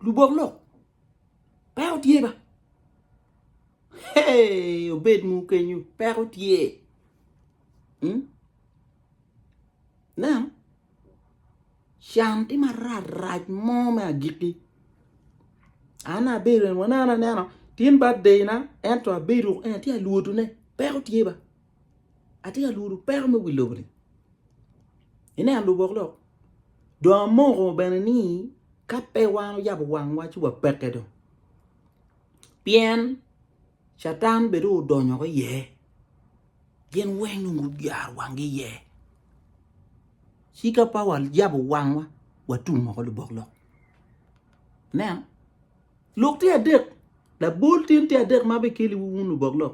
lubok lok peko tye ba hey obed mu kenyu peko tye hmm? nen can tye marac rac mo me agikki an abedo waneno anena tin birthday na ento abedo en atye alwotone peko tye ba Atye ka lworo peko me wi lobo-ni. Ineno lubok lok? Dong amoko bene ni ka pe wan oyabo wangwa ci wapekke dong. Pien Catan bene dong odonyo woko iye. Gin weng dong guyaro wanggi iye. Ci ka pe wayabo wangwa, watum woko lubok lok. Ineno? Lok tye adek. Labol tyen tye adek ma abikeliwu wun lubok lok.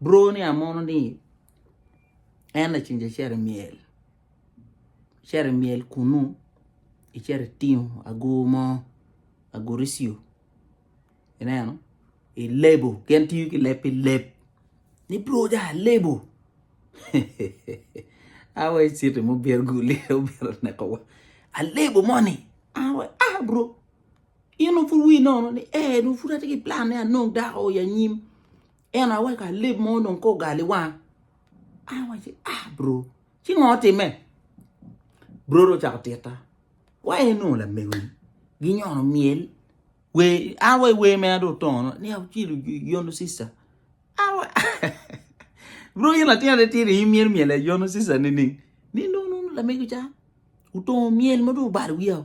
Bro ni amono ni en laceng icito i myel icito i myel kunu icito itingo agur mo aguricio ineno ilebo gin tiyo ki leb pi leb ni bro dong alebo awa iciti ma obito guli obito nekowa alebo moni an wa a bro in dong pud wii nono ni ee dong pud atye ki plan ni anong dako i anyim En aye weko alip mo onongo kong ogal i wanga. An awaci, ah bro, ci ngo otimme? Bro dong ocako titta. Wai en onongo lamegoni ginyono myel. Wer, an wai wer mena dong otono, ni acilo yono sister. An wa, bro in latin atir in myel myel aye yono sister nining? Ni dong nongo lamego ca otongo myel ma dong obalo wiya.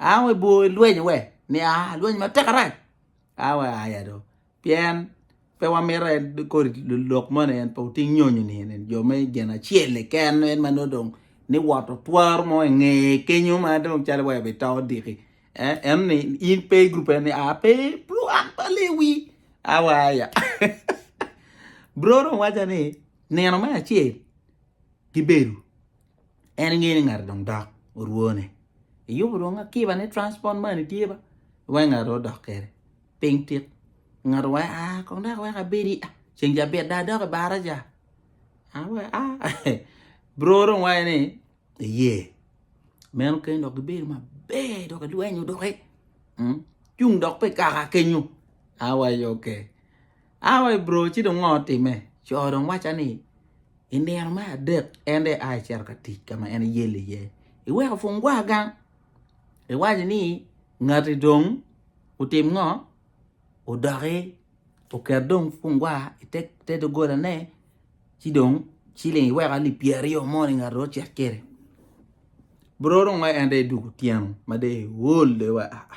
Aa wek ibwor ilweny we ni aa alweny matek arac aa wek aya do pien pe wamito en kodi lok moni en pe oting nyonyo ni eni jo me gin acel keken en ma nongo dong ni woto twaro mo inge kenyo ma dong calo wa ibito odiki en ni in pe i gurup eni aa pe bro an pe alewi a wa aya bro dong waco ni nino me acel gibedo En engeyo ni ngati dong dok orwone iyubo dong akiba ne transport money tye ba wek ngati odok kede ping tit ngati wek a kong dok wek abedi a ceng ca bit dong adok i baraca a wek a bro dong waco ni iye meno kene dok gibedo maber dok gilwenyo doki cung dok pe kaka kenyo a waco ok A wa i bro ci dong ngo time? Co dong waca ni i nino me adek en dong ea ecito ka tic ka ma en eyel iye. Iweko pungwa gang. Iwaco ni ngati dong otim ngo? Odoki oket dong pungwa i te dogolane ci dong ciling iweko alip pyeraryo mo ni ngati dong ocit kwede. Bro dong ngo en dong edugo otyeno ma dong eol dong wa aa.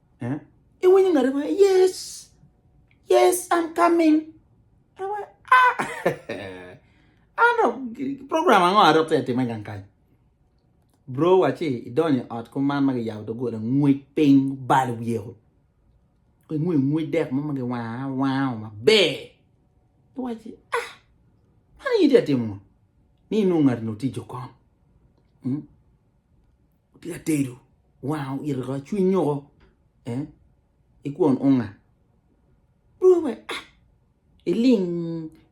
Iwinyo ngati waco, yes, yes, I'm coming. Ah, an dok program ango adok te time gang kany? Bro waci idonyo ot kuman ma giyabo dogola ngwec piny bal wiyeko. Ingwe ngwec dek mo ma giwanga wanga maber. Iwaci ah man yiti atimo ni inung ngati no tijo kon. Hmm? Tye atedo wanga oito ka cwiny nyoko eh ikwon onga dong we ah iling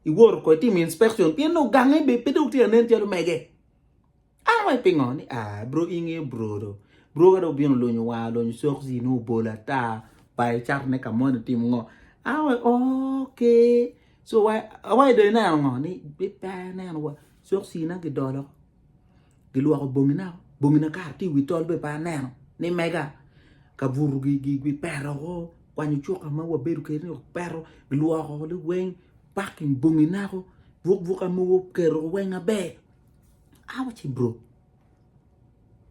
iwoto ko itim inspection pien dong gange be pe dong tye anen calo mege ah we pingo ni ah bro ingeyo bro do bro ka dong obino olonyo war olonyo cokci ne obolo ata ba icato ne ka moni itimo ngo ah we ok so wa awaco dong ineno ngo ni pe aneno wa cokci na gidolo. gilwoko bongina bongina kara tye i wi tol bene pe aneno ni mega kabuto gipeto woko kwanyo cuka ma wabedo kwede ni opeto gilwoko ne weng paking bongi nako buk buka mogo kiketo weng maber awa ci bro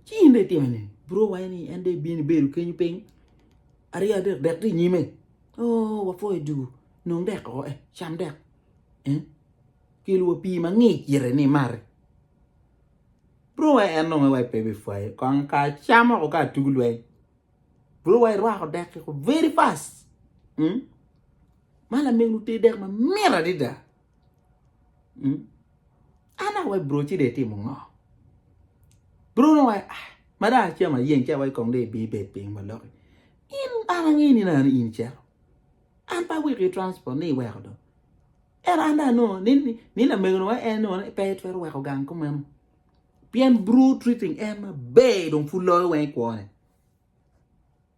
ci in dong itimone bro waco ni en dong ibino ibedo kenyo piny aryo adek dek tye inyime oo wapwoyo ducu nong dek oo eh cam dek. Kel wa pii mangic ite ni imati. Bro wa en nongo wa pe bipwaye kong ka cam moko ka tugu lweny. Bro wa irwako dek kiko very fast. Mm? Ma lamego te dek ma mira adida. Mm? Ana wa bro ci de timo ngo. Bro no wa ah, ma da acam ayeng ca wa kong de bi bed piny ma loki. In ana ngini na in cero. An pa wiki transport ni iweko do. Ento an dong anongo ni lamegowa en onongo pe twero weko gang ko meno. Pien bro treating en maber dong pud loyo weng i kwone.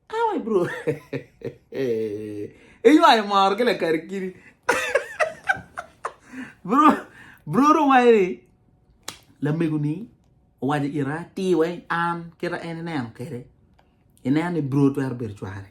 Awe bro. Iywayo moro ki lakari kiri. bro, bro dong wayo ni lamego ni owajo ira ti weng an kita en ineno kede. Ineno ni bro twero bedo cware.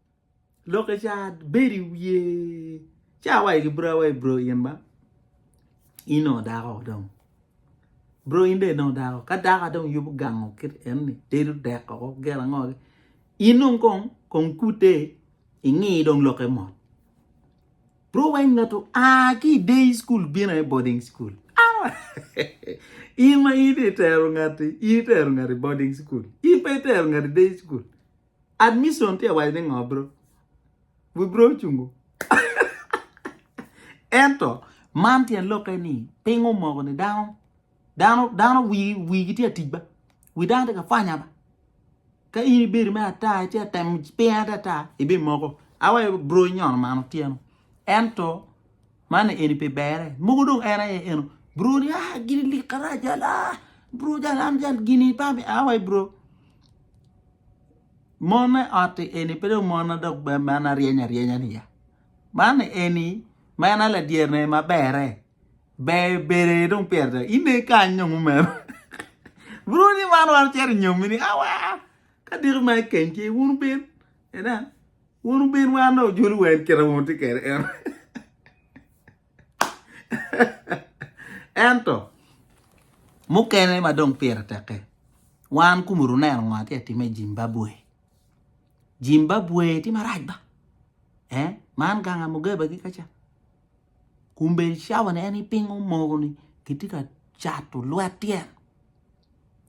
Loke ca bedo i wiye. Ca wa ki bro wa bro in ba. In o dako dong. Bro in de dong dako. Ka dako dong yubo gango kit en ni tedo dek ko gela ngo. In dong kong kong kute ingi dong loke mot. Bro weng noto a ki day school bina e boarding school. Awa. in ma in itero ngati, itero ngati boarding school. In pa itero ngati day school. Admission tye awaco ni ngo bro? Wi bro ocungo. Ento man tyen lokke ni piny omoko ni dano dano dano wi wigi tye atic ba. Wi dano tye ka fanya ba. Ka in ibedo me ata ci atemo piny ata ata ibimoko. Awaco bro inyono man otyeno. Ento Man eni pe bere. Mogo dong en aye eno. Bro ni ah gini lik karac jal ah bro jal an jal gini pa mi ah wai bro. Mon me otti eni pe dong mon adok ben man aryeny aryenya ni ya. Man eni ma en aladyer ne ma bere. Ber bere dong pyer da. Ine kany dong umero. bro ni man wan ceri nyomi ni ah wai ah. Ka diki ma ekeny ki wun ben. Enen, wun wubin wa nongo ojol wa en kite ma wutye kede eno. Ento mukene ma dong pire teke, wan kumu runeno ngo atye atime i Jimbabwe. Jimbabwe tye marac ba. Eh, man ganga Mugebe ki kaca. Kun bene cawa ni en ipingo mogo ni kitye ka cato lwet tyen.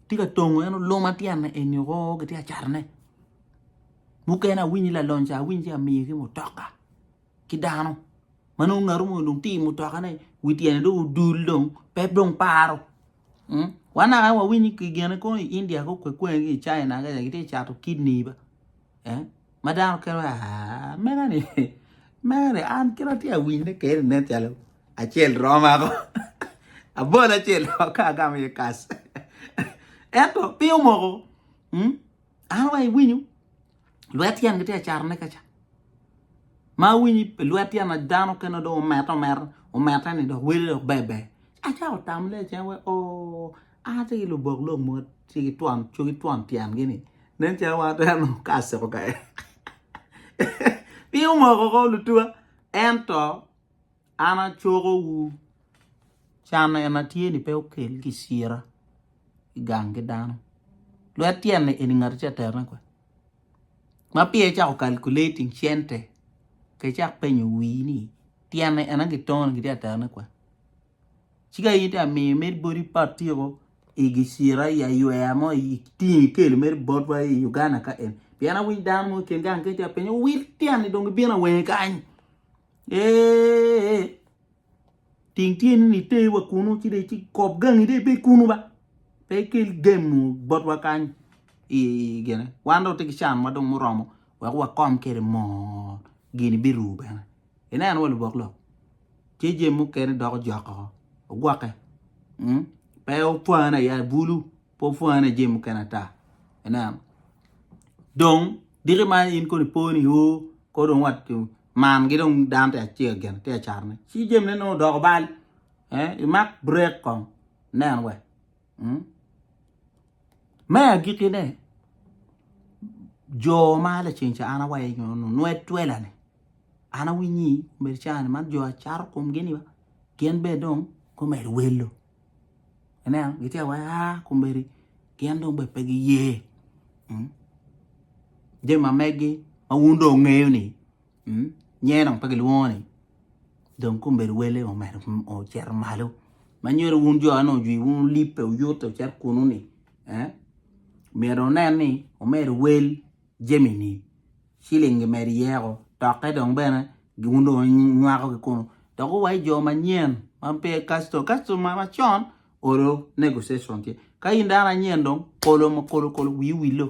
Tye ka tongo en oluma tyenne eni oo kitye ka catone. Mukene awinyi lalony ca awinyi ci amiyo ki mutoka ki dano ma nongo ngatu mo dong tye i mutokane wi tyene dong odul dong pe dong paro. Wa naka wawiny ki gine kong i India ki kwekwene ki i China ka ca kitye ka cato kidney be. ma dano kelo aa mega ni mega ni an kit atye awiny ne keri nen calo acel roma ko abol acel dok ka agamo iye kas ento piny omoko mm, an wa iwinyo lwet tyen gitye acato ne kaca ma awinyi pe lwet tyen na dano kene dong omete omete omete ni dok wele dok bebe acako tam le cen we o An atye ki lubok lok mogo tye ki twon cogi ki twon tyen gi ni nen calo wan atwero nongo ka asiko ka en piny omoko ko lutuwa ento an acoko wu can en atye ni pe okel ki cira ki gang ki dano lwet tyen ni eni ngat tye atero ne kwede ma pire icako calculating cente ka icak penyo wii ni tyene ena ki tone ki tye atero ne kwede Ci ka in amiyo meri boti patiko i gicira i aywer mo i tingo i kelo meri botwa i Uganda ka eni. Pien awinyo dano mo i kin gang kec apenye ni wil tyeni dong gibino awenge kany. Eeeeh ting tyeni ni iter wa kunu ci dong ikop gangi dong ibed kunu ba pe ikel gemo botwa kany i gine wan dong watye ki can wa dong muromo wek wakom kwede mot gini birumo bene. ineno wa lubok lok ce jami mukene doko jok oo ogwoke mm pe opwani aya i bulu pe opwani i jami mukene ata ineno dong diki ma in kono ipo ni oo kor dong wat man gi dong dano tye acel gin tye acar ne ci jami ne nongo odoko bal eh imak brek kong nen wa mm me agiki ne jo ma laceng ca an awaco nyo nu nwe twela ni An awinyi obedo cani man jo acato komgi ni gin bene dong gumedo welo. Ineno gitye awai aa komedi gin dong bene pe giye. Mm. Jami ma megi ma wun dong ngeyo ni mm, nyen dong pe gilwongo ni dong komedi wele omedo ocito malo. Ma nyero wun jo ane ojwi wun olibbe oyute ocit kunu ni eh, myero onen ni omedo wel jami ni. ciling gimedo iye ko tokke dong bene gin dong ginywako ki kunu dok owaco jo manyen ma pe custom custom ma macon olo negotiation tye ka in dano anyen dong kolo ma kolo kolo wii wilo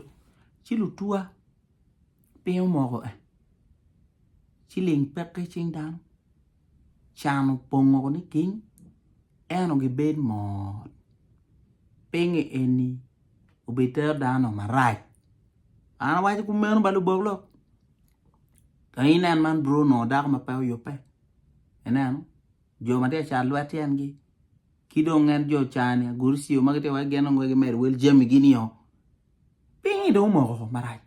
ci lutuwa piny omoko en ciling peke cing dano can opongo niking eno gibed mot pingo eni obitero dano marac. An awaco kumeno ba lubok lok. Ka inen man bro nongo dako ma pe oyubbe. Ineno? Jo ma tye ka cat lwet tyengi. Ki dong en jo cani aguru ciyo ma gitye wai gin dong wai gimedo wel jami gini o. Pingi dong omoko ko marac.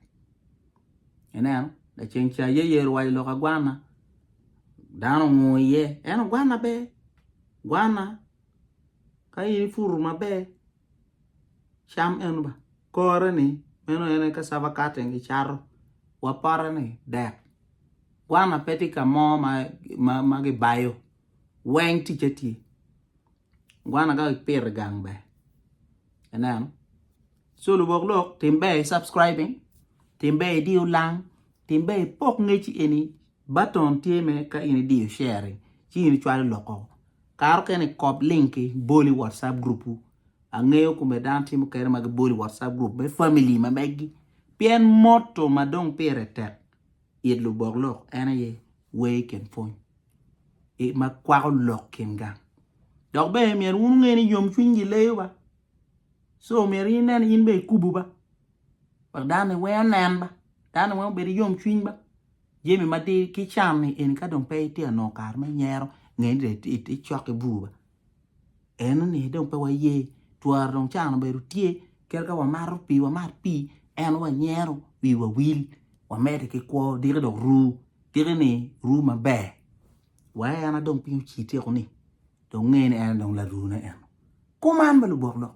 Ineno? Laceng ca ye yer wayo lok agwana. Dano ongo iye. En ogwana be. Gwana. Ka in ifutu maber. cam eno ba kore ni meno en aye cassava cutting gi cato wa pote ni dek gwana pe tye ka mo ma ki bayo weng ticce tye gwana ka ki pito i gang ber i neno so lubok lok tim ber i subscribing tim ber i diyo lang tim ber i pok ngec eni button tye mere ka in idiyo sharing ci in icwalo lok oo Kare okene kop link ki bol i WhatsApp group wu. Angeyo kome dano timo kere ma gibolo i WhatsApp group me family ma megi. Pien motto ma dong pire tek it lubok lok en aye wer i kin pwony i ma kwako lok kin gang. Dok bene myero wun wunge ni yomcwiny gileyo ba. So myero in nen in bene ikubu ba. Wek dano ni weng onen ba. Dano ni weng obedo yomcwiny ba. Jami madir ki can ni eni ka dong pe itye ka nongo kare me nyero nge ni dong icok i bur ba eno ni dong pe waye twara dong can obedo tye kadi ka wamato pii wamat pii eno wanyero wiwa wil wamede ki kwo diki dong ru diki ni ru maber wa en aye dong piny ocitye kuni dong nge ni en aye dong larune eno kuman bene lubok lok.